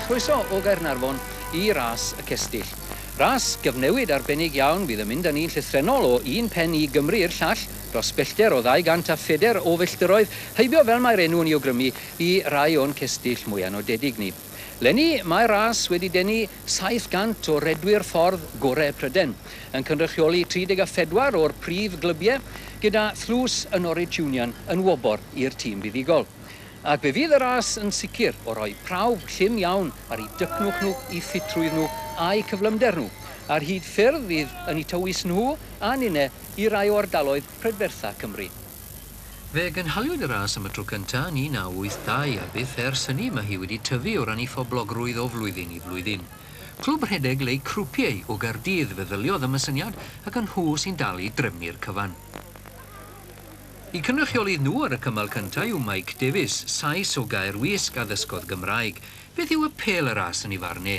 chroeso o Gaernarfon i ras y cestyll. Ras gyfnewid arbennig iawn fydd yn mynd â ni'n llythrenol o un pen i Gymru i'r llall, dros bellter o 200 a phedair o filltiroedd, heibio fel mae'r enw yn ei awgrymu i rai o'n cestyll mwyaf nodedig ni. Leni, mae ras wedi denu 700 o redwyr ffordd gorau Pryden, yn cynrychioli 34 o'r prif glybiau, gyda thlws y Norwich Union yn wobor i'r tîm buddugol. Ac fe fydd y ras yn sicr o roi prawf llym iawn ar eu dycnwch nhw, eu ffitrwydd nhw a'u cyflymder nhw, ar hyd ffyrdd fydd yn eu tywys nhw a ninnau i rai o ardaloedd prydfertha Cymru. Fe gynhaliwyd y ras am y tro cyntaf yn 1982 a byth ers hynny mae hi wedi tyfu o ran ei phoblogrwydd o flwyddyn i flwyddyn. Clwb rhedeg Leu Croupier o Gaerdydd feddyliodd am y syniad ac yn nhw sy'n dal i drefnu'r cyfan. Y cynrychiolydd nhw ar y cymal cyntaf yw Mike Davies, Sais o Gaerwysg a ddysgodd Gymraeg. Beth yw apêl y ras yn ei farn e?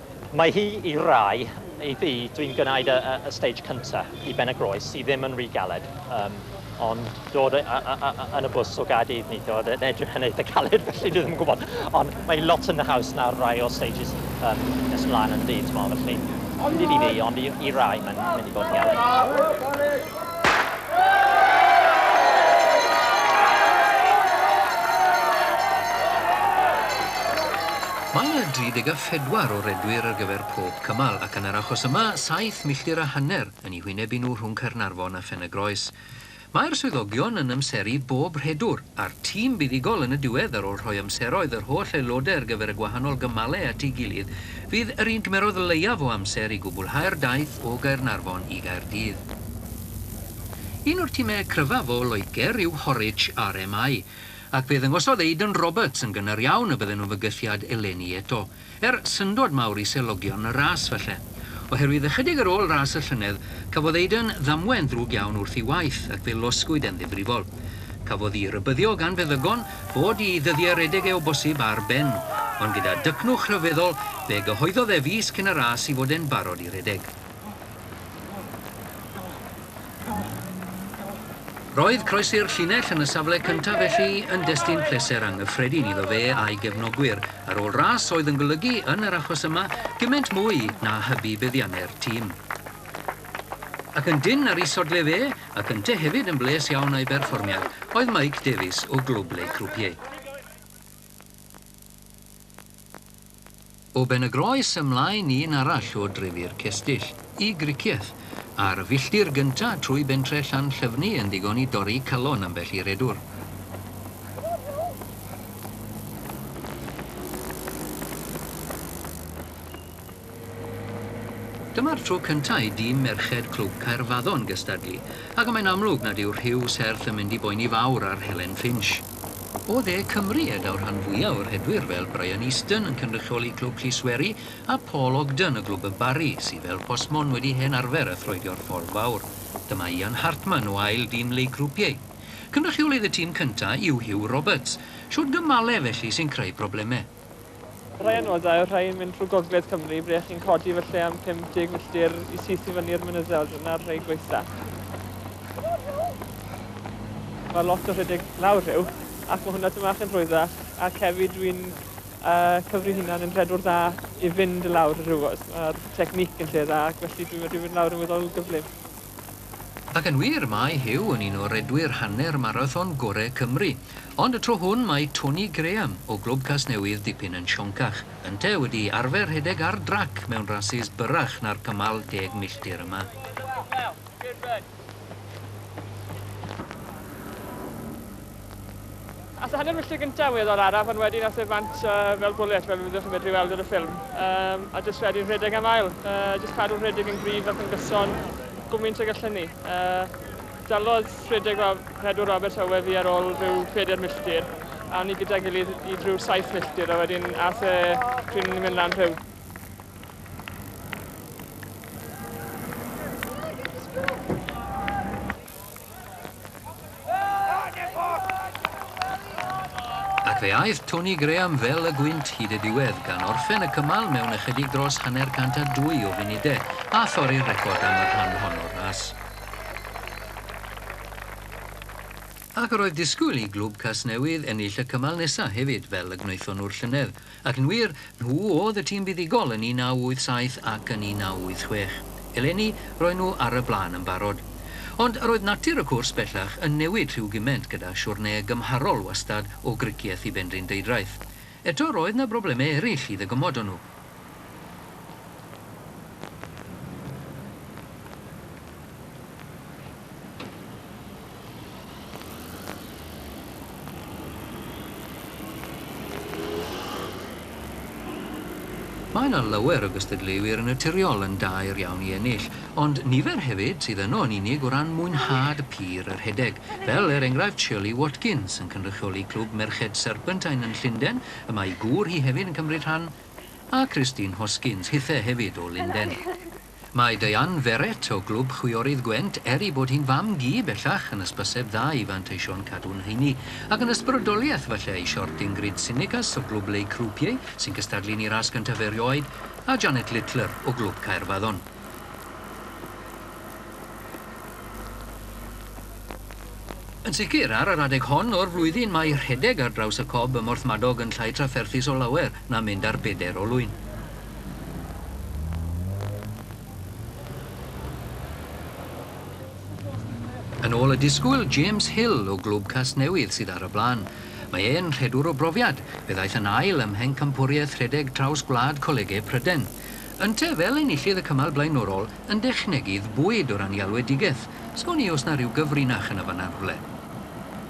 Mae hi i rai, i fi, dwi'n gwneud y y y stage cynta i Benygroes sy ddim yn ry galed yym ond dod y y y y yn y bws o Gaerdydd neithiwr o'dd e'n edrych yn eitha caled felly dwi ddim yn gwbod ond mae lot yn haws na rai o'r stages yym nes mlan yn du t'mo' felly nid i fi ond i i rai mae'n mynd i bod yn galed. pedwar o redwyr ar gyfer pob cymal, ac yn yr achos yma, saith milltir a hanner yn eu hwynebu nhw rhwng Caernarfon a Phen-y-groes. Mae'r swyddogion yn amseru bob rhedwr, a'r tîm buddugol yn y diwedd ar ôl rhoi amseroedd yr holl aelodau ar gyfer y gwahanol gymalau at ei gilydd, fydd yr un gymerodd leiaf o amser i gwblhau'r daith o Gaernarfon i Gaerdydd. Un o'r timau cryfaf o Loegr yw Horwich RMI. Ac fe ddangosodd Aidan Roberts yn gynnar iawn y bydden nhw'n fygythiad eleni eto. Er syndod mawr i selogion y ras, falle. Oherwydd ychydig ar ôl ras y llynedd, cafodd Aidan ddamwain ddrwg iawn wrth ei waith, ac fe losgwyd e'n ddifrifol. Cafodd i rybyddio gan feddygon fod i ddyddiau redeg e o bosib ar ben. Ond gyda dycnwch rhyfeddol, fe gyhoeddodd e fis cyn y ras i fod e'n barod i redeg. Roedd croesi'r llinell yn y safle cyntaf felly yn destun pleser anghyffredin iddo fe a'i gefnogwyr, ar ôl ras oedd yn golygu, yn yr achos yma, gymaint mwy na hybu buddiannau'r tîm. Ac yn dynn ar ei sodle fe, ac ynte hefyd yn bles iawn â'i berfformiad, oedd Mike Davies o Glwb Les Croupiers. O Benygroes ymlaen un arall o drefi'r cestyll, i Gricieth, ar y filltir gynta trwy bentre Llanllyfni yn ddigon i dorri calon ambell i redwr. Dyma'r tro cynta i dîm merched Clwb Caerfaddon gystadlu, ac y mae'n amlwg nad yw rhyw serth yn mynd i boeni fawr ar Helen Finch. O dde Cymru y daw rhan fwya' o rhedwyr fel Brian Easton yn cynrychioli Clwb Llisweri a Paul Ogden o Glwb y Barri sy fel Postmon wedi hen arfer a throedio'r Ffordd Fawr. Dyma Ian Hartman o ail dîm League Croupier. Cynrychiolydd y tîm cynta' yw Huw Roberts. Shwt gymale felly sy'n creu probleme? Rhai o nodau yw'r rhai yn mynd trwy gogledd Cymru, ble chi'n codi felly am 50 milltir i syth i fyny'r mynyddoedd, dyna'r rhai gwaethaf. Mae lot o rhedeg lawr rhyw, ac mae hwnna dyma chi'n rhwyddach, ac hefyd dwi'n uh, cyfri hunan yn rhedwr dda i fynd lawr y rhywos. Mae'r technic yn lle dda, ac felly dwi'n medru fynd lawr yn weddol gyflym. Ac yn wir, mae Huw yn un o redwyr hanner marathon gorau Cymru. Ond y tro hwn mae Tony Graham o Glwb Casnewydd dipyn yn sioncach. Ynteu wedi arfer rhedeg ar drac mewn rasys byrrach na'r cymal deg milltir yma. Aeth y hanner milltir gyntaf yn weddol araf ond wedyn aeth e bant fel bwlet fel fyddwch chi'n medru weld ar y ffilm. Um, a jyst wedyn rhedeg am ail. Uh, jyst cadw rhedeg yn gryf ac yn gyson gwmynt ag allan ni. Uh, dalodd rhedeg Rob, Pedwar Roberts Owe fi ar ôl rhyw 4 milltir a o'n i gyda gilydd i drwy 7 milltir a wedyn aeth e pryn ni'n mynd lan rhyw. Ac fe aeth Tony Graham fel y gwynt hyd y diwedd, gan orffen y cymal mewn ychydig dros hanner cant a dwy o funudau, a thorri'r record am y rhan hon o'r ras. Ac roedd disgwyl i Glwb Casnewydd ennill y cymal nesaf hefyd, fel y gwnaethon nhw'r llynedd. Ac yn wir, nhw oedd y tîm buddugol yn 1987 ac yn 1986. Eleni, roen nhw ar y blaen yn barod. Ond roedd natur y cwrs bellach yn newid rhyw gyment gyda siwrne gymharol wastad o Gricieth i Benrhyn Deudraeth. Eto, roedd 'na broblemau eraill i ddygymod o nhw. Mae yna lawer o gystadleuwyr yn naturiol yn daer iawn i ennill, ond nifer hefyd sydd yno yn unig o ran mwynhad y pur a rhedeg, fel er enghraifft Shirley Watkins yn cynrychioli Clwb Merched Serpentine yn Llundain, y mae ei gŵr hi hefyd yn cymryd rhan, a Christine Hoskins, hithe hefyd o Lundain. Mae Diane Verrett o Glwb Chwiorydd Gwent, er ei bod hi'n fam-gu bellach, yn hysbyseb dda i fanteisio'n cadw'n heini. Ac yn ysbrydoliaeth, falle, i siort Ingrid Tsimikas o Glwb Les Croupiers, sy'n cystadlu'n ei ras gyntaf erioed, a Janet Littler o Glwb Caerfaddon. Yn sicr, ar yr adeg hon o'r flwyddyn, mae rhedeg ar draws y Cob ym Mhorthmadog yn llai trafferthus o lawer na mynd ar bedair olwyn. Yn ôl y disgwyl, James Hill o Glwb Casnewydd sydd ar y blaen. Mae e'n rhedwr o brofiad, fe ddaeth yn ail ym Mhencampwriaeth Rhedeg Traws Gwlad Colegau Pryden. Yntau, fel enillydd y cymal blaenorol, yn dechnegydd bwyd o ran ei alwedigaeth. Sgwn i os 'na ryw gyfrinach yn y fan'na rhywle.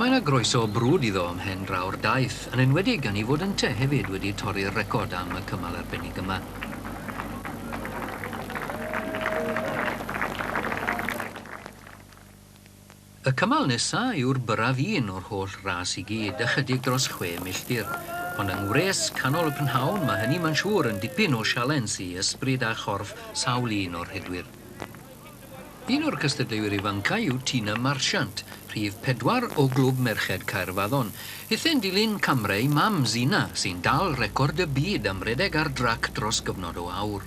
Mae 'na groeso brwd iddo ym mhen draw'r daith, yn enwedig gan 'i fod ynte hefyd wedi torri'r record am y cymal arbennig yma. Y cymal nesa' yw'r byrraf un o'r holl ras i gyd, ychydig dros chwe milltir. Ond yng ngwres canol y prynhawn, mae hynny ma'n siŵr yn dipyn o sialens i ysbryd a chorff sawl un o'r rhedwyr. Un o'r cystadleuwyr ifancau yw Tina Marchant, rhif pedwar o Glwb Merched Caerfaddon. Hithau'n dilyn camre ei mam, Zina, sy'n dal record y byd am redeg ar drac dros gyfnod o awr.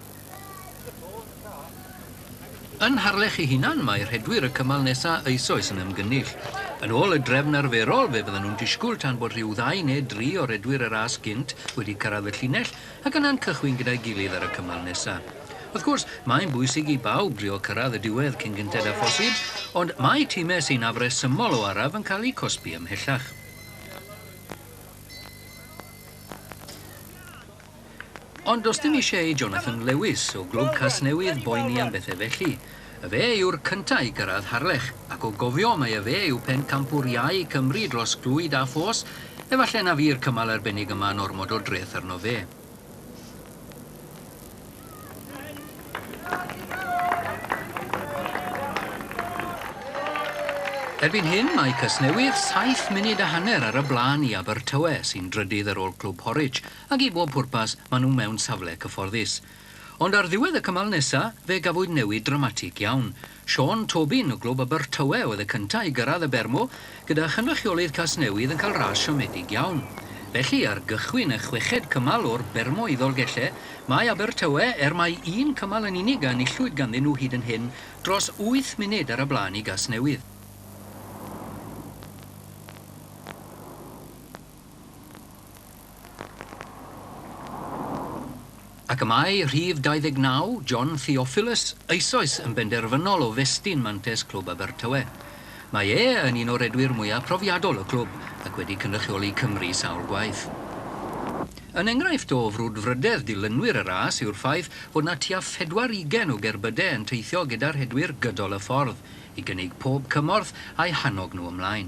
Yn Harlech ei hunan, mae rhedwyr y cymal nesa eisoes yn ymgynnull. Yn ôl y drefn arferol, fe fyddan nhw'n disgwyl tan bod rhyw ddau neu dri o redwyr y ras gynt wedi cyrraedd y llinell ac yna'n cychwyn gyda'i gilydd ar y cymal nesa. Wrth gwrs, mae'n bwysig i bawb drio cyrraedd y diwedd cyn gynted â phosib, ond mae timau sy'n afresymol o araf yn cael eu cosbi ymhellach. Ond does dim eisiau i Jonathan Lewis, o Glwb Casnewydd, boeni am bethau felly. Y fe yw'r cyntaf i gyrraedd Harlech, ac o gofio mai y fe yw pencampwr iau Cymru dros glwyd a ffos, efallai na fu'r cymal arbennig yma'n ormod o dreth arno fe. Erbyn hyn, mae Casnewydd saith munud a hanner ar y blaen i Abertawe, sy'n drydydd ar ôl Clwb Horwich, ac i bob pwrpas, maen nhw mewn safle cyfforddus. Ond ar ddiwedd y cymal nesa', fe gafwyd newid dramatig iawn. Siôn Tobin o Glwb Abertawe oedd y cyntaf i gyrraedd y Bermo, gyda chynrychiolydd Casnewydd yn cael ras siomedig iawn. Felly, ar gychwyn y chweched cymal o'r Bermo i Ddolgellau, mae Abertawe, er mai un cymal yn unig a enillwyd ganddyn nhw hyd yn hyn, dros wyth munud ar y blaen i Gasnewydd. Ac y mae rhif 29, John Theophilus, eisoes yn benderfynol o festyn mantes Clwb Abertawe. Mae e yn un o redwyr mwyaf profiadol y clwb ac wedi cynrychioli Cymru sawl gwaith. Yn enghraifft o frwdfrydedd dilynwyr y ras yw'r ffaith fod 'na tua phedwar ugain o gerbyde yn teithio gyda rhedwyr gydol y ffordd i gynnig pob cymorth a'u hannog nhw ymlaen.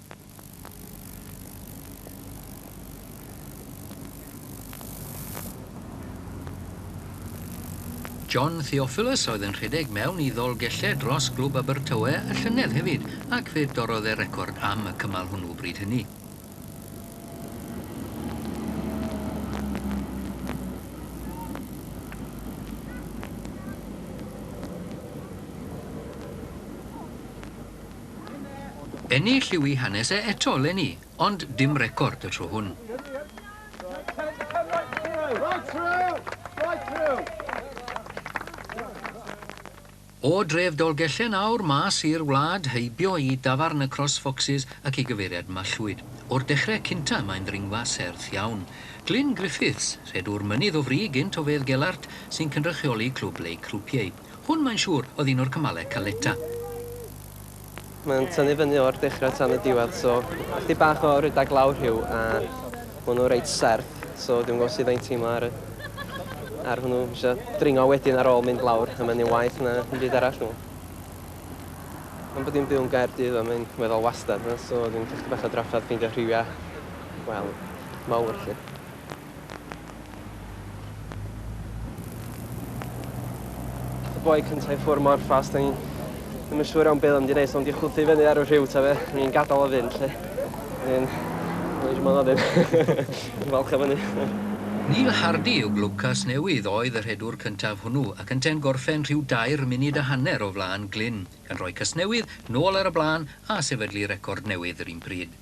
John Theophilus oedd yn rhedeg mewn i Ddolgellau dros Glwb Abertawe y llynedd hefyd ac fe dorrodd e record am y cymal hwnnw bryd hynny. Ennill yw i hanes e eto 'leni, ond dim record y tro hwn. O dref Dolgellen awr mas i'r wlad, heibio i dafarn y Cross Foxes ac i gyfeiriad Mallwyd. O'r dechre cynta mae'n ddringfa serth iawn. Glyn Griffiths, rhedwr mynydd o fri gynt o Fedd Gelart, sy'n cynrychioli Clwb Lake Rupieu. Hwn mae'n siŵr oedd un o'r cymalau caleta. Mae'n tynnu fyny o'r dechrau tan y diwedd so chydig bach o rydag lawr rhyw a ma' nhw reit serth so dwi'm yn gwybod sut mae'n teimlo ar y ar hwnnw. Dwi isio dringo wedyn ar ôl mynd lawr a mae'n un waeth na dim byd arall dwi'n meddwl. Am bod dwi'n byw yn Gaerdydd a mae'n weddol wastad 'ma so dwi'n cael chydig bach o drafferth ffeindio rhywiau wel mawr 'lly. boi cynta i ffwr mor fast o'n i'n ddim yn siŵr iawn beth o'n mynd i neud so o'n di chwythu fyny ar y rhyw ta fe o'n i'n gadael o fynd lly o'n i'n o'n i'n siŵr ddim yn falch o fyny Neil Hardy yw Glwbcas Newydd oedd y rhedwr cyntaf hwnnw ac yntau'n gorffen rhyw dair munud a hanner o flaen Glyn gan roi Casnewydd nôl ar y blaen a sefydlu record newydd yr un pryd.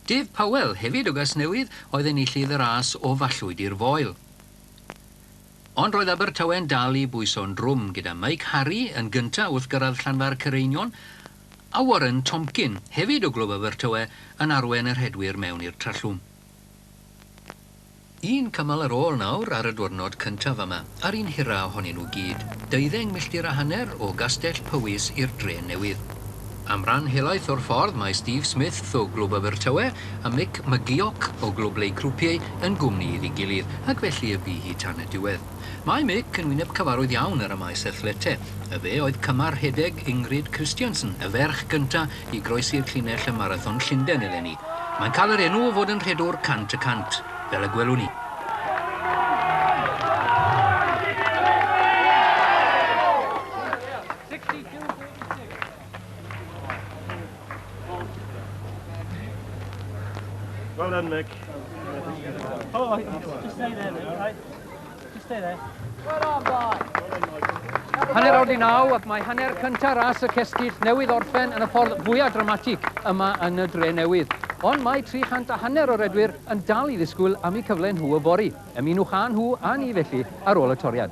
Dydd Powell hefyd o Gasnewydd oedd enillydd y ras o Fallwyd i'r Foel. Ond roedd Abertawe'n dal i bwyso'n drwm, gyda Mike Harry yn gynta' wrth gyrraedd Llanfair Cyreinion, a Warren Tomkin, hefyd o Glwb Abertawe, yn arwen y rhedwyr mewn i'r Trallwm. Un cymal ar ôl nawr ar y diwrnod cyntaf yma, a'r un hira ohonyn nhw gyd. Deuddeng milltir a hanner o Gastell Powys i'r dre newydd. Am ran helaeth o'r ffordd mae Steve Smith o Glwb Abertawe a Mick McGeoch o Glwb Lake Roupier yn gwmni iddi gilydd, ac felly y bu hi tan y diwedd. Mae Mick yn wyneb cyfarwydd iawn ar y maes athlete, a fe oedd cymar rhedeg Ingrid Kristiansen, y ferch gyntaf i groesi'r llinell ym Marathon Llundain eleni. Mae'n cael yr enw o fod yn rhedwr cant y cant, fel y gwelwn ni. Well done, Mick. Oh, just stay there, Mick, right? Just stay there. Well done, boy. Hanner awr di naw ac mae hanner cyntaf ras y cestyll newydd orffen yn y ffordd fwyaf dramatig yma yn y dre newydd. Ond mae 300 a hanner o redwyr yn dal i ddisgwyl am eu cyfle nhw o fori. Ymunwch â nhw a ni felly ar ôl y toriad.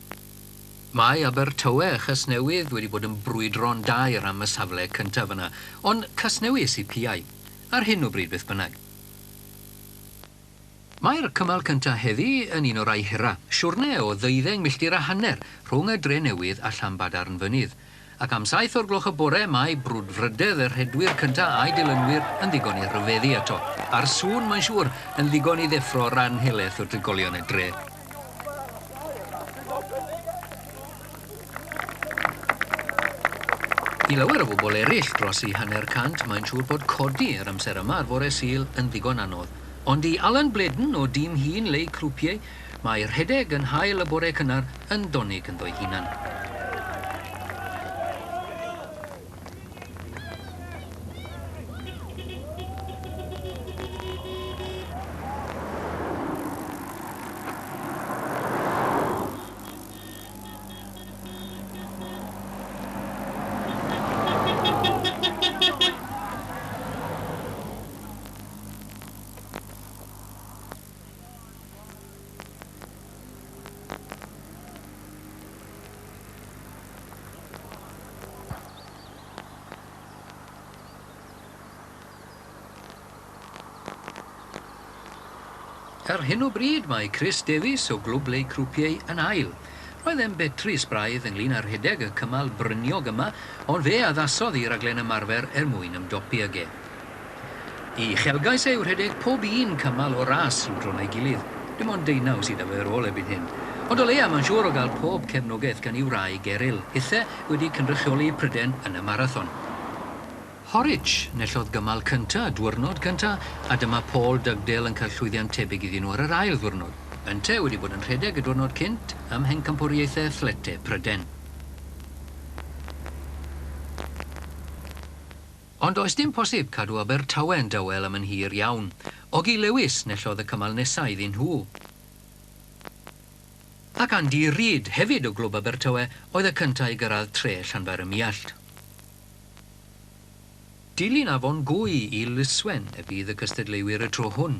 Mae Abertawe a Chasnewydd wedi bod yn brwydro'n daer am y safle cyntaf yna, ond Casnewydd sydd piau, ar hyn o bryd beth bynnag. Mae'r cymal cyntaf heddi yn un o rai hira, siwrne o ddeuddeng milltir a hanner rhwng y Drenewydd a Llanbadarn Fynydd. Ac am saith o'r gloch y bore, mae brwdfrydedd y rhedwyr cyntaf a'i dilynwyr yn ddigon i ryfeddu eto. A'r sŵn, mae'n siŵr, yn ddigon i ddeffro ran helaeth o drigolion y dre. I lawer o bobl eraill, dros eu hanner cant, mae'n siŵr bod codi yr amser yma ar fore Sul yn ddigon anodd. Ond i Alan Blaydon o Dîm Hun Leu Croupier, Mae rhedeg yn hael y bore cynnar yn donig ynddo'i hunan. Ar hyn o bryd mae Chris Davies o Glwb Les Croupiers yn ail. Roedd e'n betrus braidd ynglŷn â rhedeg y cymal bryniog yma ond fe addasodd i raglen ymarfer er mwyn ymdopi ag e. Y uchelgais yw rhedeg pob un cymal o'r ras i'w dro na'i gilydd. Dim ond deunaw sydd â fe ar ôl erbyn hyn. Ond o leia, mae'n siŵr o gael pob cefnogaeth gan ei wraig Eryl, hithe wedi cynrychioli Pryden yn y marathon. Horwich enillodd gymal cynta' y dwyrnod cynta' a dyma Paul Dugdale yn cael llwyddiant tebyg iddyn nhw ar yr ail ddiwrnod. Ynte wedi bod yn rhedeg y diwrnod cynt ym Mhencampwriaethau Athletau Pryden. Ond does dim posib cadw Abertawe'n dawel am yn hir iawn. Ogie Lewis nellodd y cymal nesa' iddyn nhw. Ac Andy Reid, hefyd o Glwb Abertawe, oedd y cynta' i gyrradd tre Llanfair-ym-Muallt. Dilyn afon Gwy i Lyswen y bydd y cystadleuwyr y tro hwn.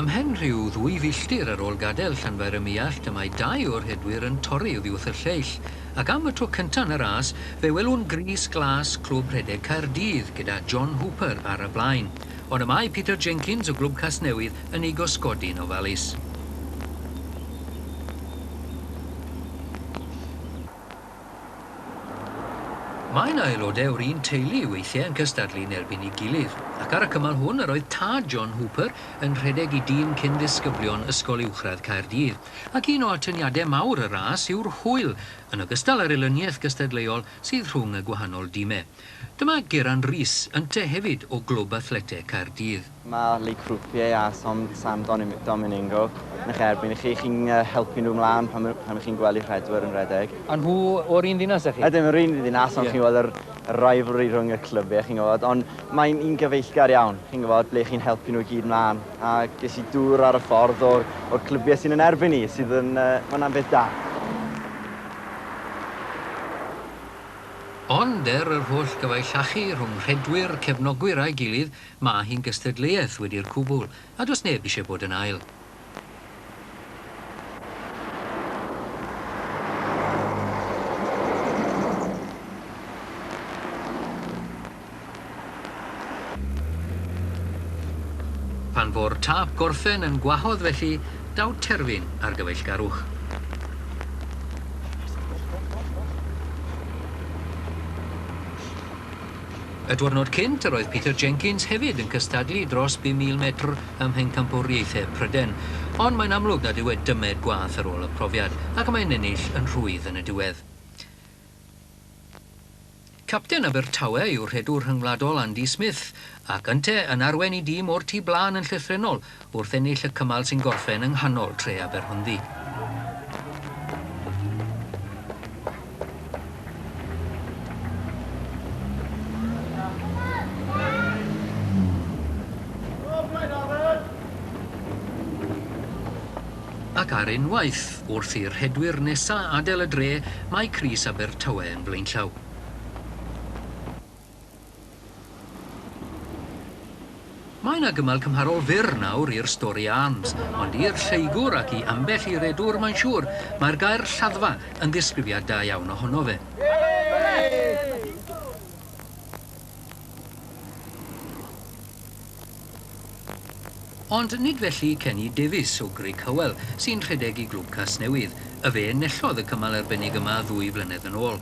Ymhen rhyw ddwy filltir ar ôl gadael Llanfair ym Muallt y mae dau o'r rhedwyr yn torri oddi wrth y lleill, ac am y tro cynta' yn y ras fe welwn grys glas Clwb Rhedeg Caerdydd gyda John Hooper ar y blaen, ond y mae Peter Jenkins o Glwb Casnewydd yn ei gosgodi'n ofalus. Mae 'na aelodau o'r un teulu weithiau yn cystadlu yn erbyn ei gilydd, ac ar y cymal hwn yr oedd tad John Hooper yn rhedeg i dîm cyn-ddisgyblion Ysgol Uwchradd Caerdydd, ac un o atyniadau mawr y ras yw'r hwyl, yn ogystal â'r elyniaeth gystadleuol, sydd rhwng y gwahanol dimau. Dyma Geran Rees, yntau hefyd o Glwb Athleteg Caerdydd. Mae Le Croupier a Som San Domingo yn eich erbyn i chi. Chi'n helpu nhw mlaen pan ych chi'n gwely rhedwyr yn rhedeg. A nhw o'r un ddinas â chi? Ydyn, yr un ddinas, ond chi'n gweld yr rivalry rhwng y clybiau, chi'n gwybod. Ond mae'n un gyfeillgar iawn, chi'n gwybod, ble chi'n helpu nhw i gyd mlaen. A ges i dŵr ar y ffordd o'r clybiau sy'n yn erbyn ni, sydd yn... mae hwnna'n beth da. Ond er yr holl gyfallachu rhwng rhedwyr, cefnogwyr a'i gilydd, mae hi'n gystadleuaeth wedi'r cwbl, a does neb eisiau bod yn ail. Pan fo'r tâp gorffen yn gwahodd felly, daw terfyn ar gyfeillgarwch. Y diwrnod cynt, yr oedd Peter Jenkins hefyd yn cystadlu dros 5,000 metr ym Mhencampwriaethau Pryden, ond mae'n amlwg nad yw e dymed gwath ar ôl y profiad, ac y mae'n ennill yn rhwydd yn y diwedd. Capten Abertawe yw rhedwr rhyngwladol Andy Smith, ac yntau yn arwen i dîm o'r tu blaen yn llythrennol wrth ennill y cymal sy'n gorffen yng nghanol tre Aberhonddu. Ac ar unwaith, wrth i'r rhedwyr nesa' adael y dre, mae crys Abertawe yn flaenllaw. Mae 'na gymal cymharol fyr nawr i'r Storey Arms, ond i'r lleygwr ac i ambell i redwr mae'n siŵr, mae'r gair 'Lladdfa' yn ddisgrifiad da iawn ohono fe. Ond nid felly Kenny Davies o Grug Hywel, sy'n rhedeg i Glwb Casnewydd, y fe enillodd y cymal arbennig yma ddwy flynedd yn ôl.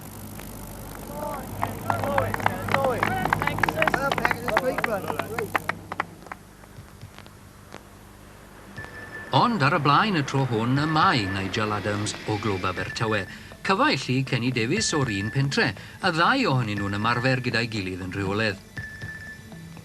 Ond ar y blaen y tro hwn y mae Nigel Adams o Glwb Abertawe. Cyfaill i Kenny Davies o'r un pentre, y ddau ohonyn nhw'n ymarfer gyda'i gilydd yn rheolaidd.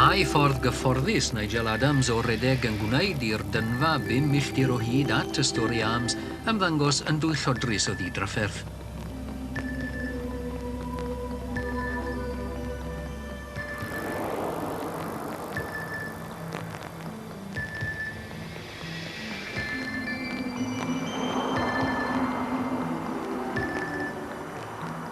Mae ffordd gyfforddus Nigel Adams o redeg yn gwneud i'r dynfa bum milltir o hyd at y Storey Arms ymddangos yn dwyllodrus o ddidrafferth.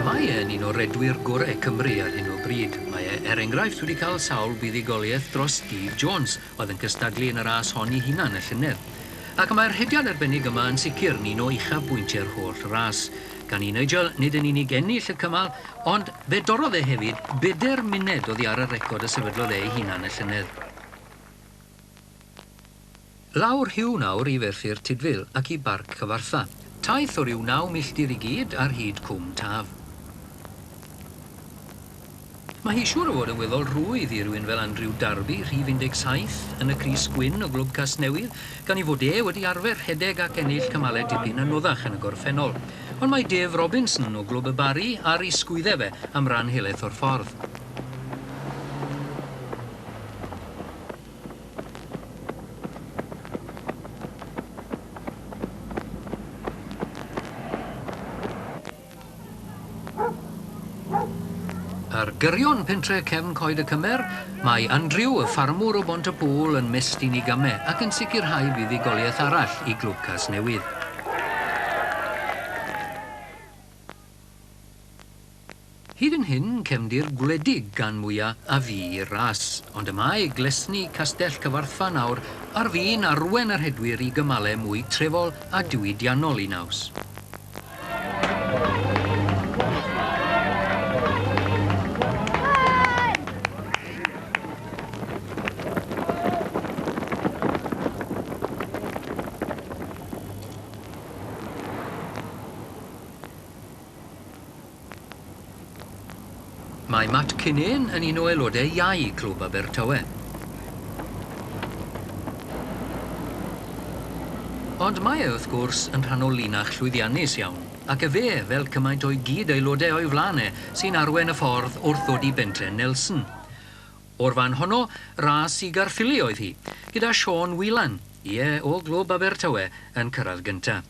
Mae e'n un o redwyr gorau Cymru ar hyn o bryd. Mae e, er enghraifft, wedi cael sawl buddugoliaeth dros Steve Jones, oedd yn cystadlu yn y ras hon ei hunan y llynedd. Ac mae'r rhediad arbennig yma yn sicr yn un o uchafbwyntiau'r holl ras. Gan i Nigel nid yn unig ennill y cymal, ond fe dorrodd e hefyd bedair muned oddi ar y record y sefydlodd e ei hunan y llynedd. Lawr Huw nawr i ferthyr Tudful ac i Barc Cyfartha. Taith o ryw naw milltir i gyd ar hyd Cwm Taf. Mae hi siŵr o fod yn weddol rwydd i rywun fel Andrew Darby, rhif 17, yn y crys gwyn o Glwb Casnewydd, gan ei fod e wedi arfer rhedeg ac ennill cymalau dipyn anoddach yn y gorffennol. Ond mae Dave Robinson o Glwb y Barri ar ei sgwyddau fe am ran helaeth o'r ffordd. Ar gyrion pentre cefn Coed y Cymer, mae Andrew, y ffarmwr o Bont y Pŵl, yn mestyn i game ac yn sicrhau buddugoliaeth arall i Glwb Casnewydd. Hyd yn hyn, cefndir gwledig gan mwya a fu i'r ras, ond y mae glesni Castell Cyfarthfa nawr ar fin arwen y rhedwyr i gymale mwy trefol a diwydiannol i naws. Mae Matt Kinane yn un o aelodau iau Clwb Abertawe. Ond mae e, wrth gwrs, yn rhan o linach llwyddiannus iawn, ac efe, fel cymaint o'i gyd-aelodau o'i flaen e, sy'n arwain y ffordd wrth ddod i Bentre Nelson. O'r fan honno, ras i Gaerffili oedd hi, gyda Sean Whelan, ie, o Glwb Abertawe, yn cyrraedd gynta'.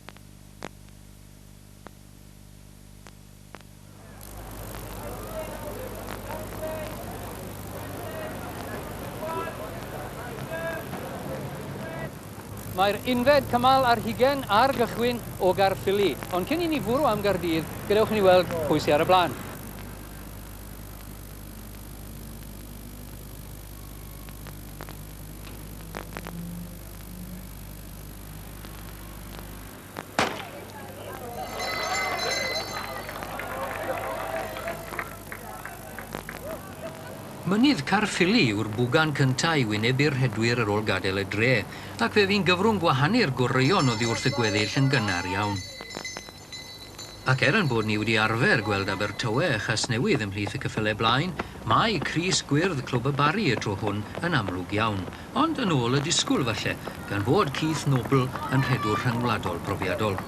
Mae'r unfed cymal ar hugen ar gychwyn o Gaerffili, ond cyn i ni fwrw am Gaerdydd, gadewch i ni weld pwy sydd ar y blaen. Mynydd Caerffili yw'r bwgan cyntaf i wynebu'r rhedwyr ar ôl gadael y dre, ac fe fu'n gyfrwng gwahanu'r goreuon oddi wrth y gweddill yn gynnar iawn. Ac er ein bod ni wedi arfer gweld Abertawe a Chasnewydd ymhlith y cyffyle blaen, mae crys gwyrdd Clwb y Barri y tro hwn yn amlwg iawn, ond yn ôl y disgwyl falle, gan fod Keith Noble yn rhedwr rhyngwladol brofiadol.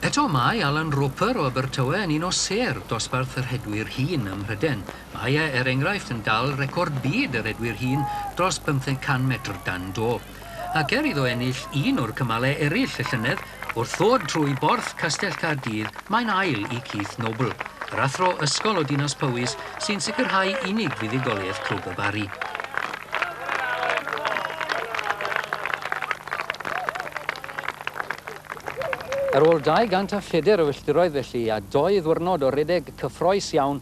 Eto mae Alan Roper o Abertawe yn un o sêr dosbarth y rhedwyr hŷn ym Mhryden, Mae e, er enghraifft, yn dal record byd yr edwyr hŷn dros 500 metr dan do. Ac er iddo ennill un o'r cymalau eraill y llynedd, wrth ddod trwy borth Castell Caerdydd, mae'n ail i Keith Noble, yr athro ysgol o Dinas Powys sy'n sicrhau unig fuddugoliaeth Clwb y Barri. Ar ôl 200 a phedair o filltiroedd felly, a dou ddiwrnod o redeg cyffroes iawn,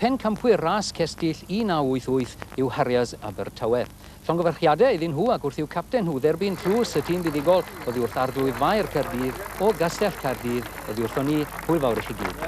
Pencampwyr ras cestyll 1988 yw Harriers Abertawe. Llongyfarchiadau iddyn nhw ac wrth i'w capten nhw dderbyn tlws y tîm fuddugol oddi wrth Arglwydd Faer Caerdydd o Gastell Caerdydd oddi wrthon ni, hwyl fawr i chi gyd.